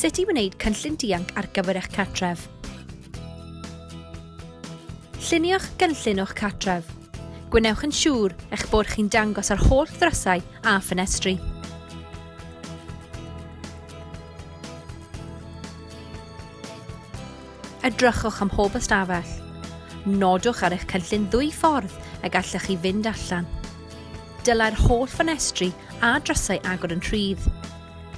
Sut i wneud cynllun dianc ar gyfer eich cartref. Llunio'ch gynllun o'ch cartref. Gwnewch yn siŵr eich bod chi'n dangos ar holl ddrysau a ffenestri. Edrychwch am hob ystafell. Nodwch ar eich cynllun ddwy ffordd y gallwch chi fynd allan. Dylai'r holl ffenestri a drysau agor yn rhydd.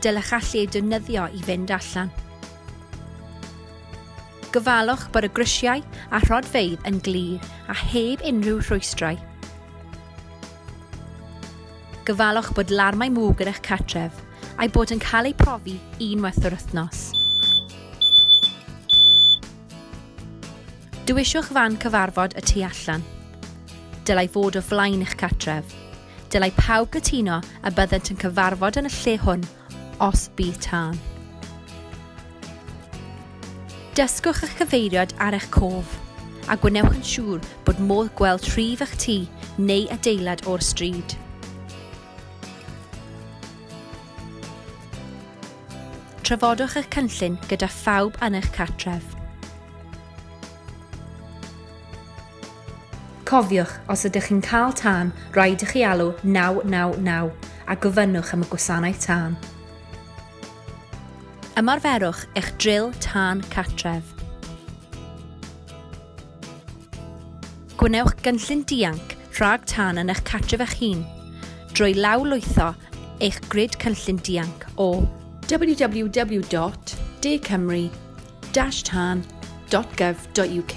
Dylech allu eu defnyddio i fynd allan. Gofalwch bod y grisiau a rhodfeydd yn glir a heb unrhyw rhwystrau. Gofalwch bod larmau mwg yn eich cartref a'i bod yn cael eu profi unwaith yr wythnos. Dewiswch fan cyfarfod y tu allan. Dylai fod o flaen eich cartref. Dylai pawb gytuno a byddent yn cyfarfod yn y lle hwn os bydd tân. Dysgwch eich cyfeiriad ar eich cof a gwnewch yn siŵr bod modd gweld rhif eich tŷ neu adeilad o'r stryd. Trafodwch eich cynllun gyda phawb yn eich cartref. Cofiwch, os ydych chi'n cael tân, rhaid i chi alw 999 a gofynnwch am y gwasanaeth tân. Ymarferwch eich dril tân cartref. Gwnewch gynllun dianc rhag tân yn eich cartref eich hun drwy lawrlwytho eich grid cynllun dianc o www.dcymru.org. www.tan.gov.uk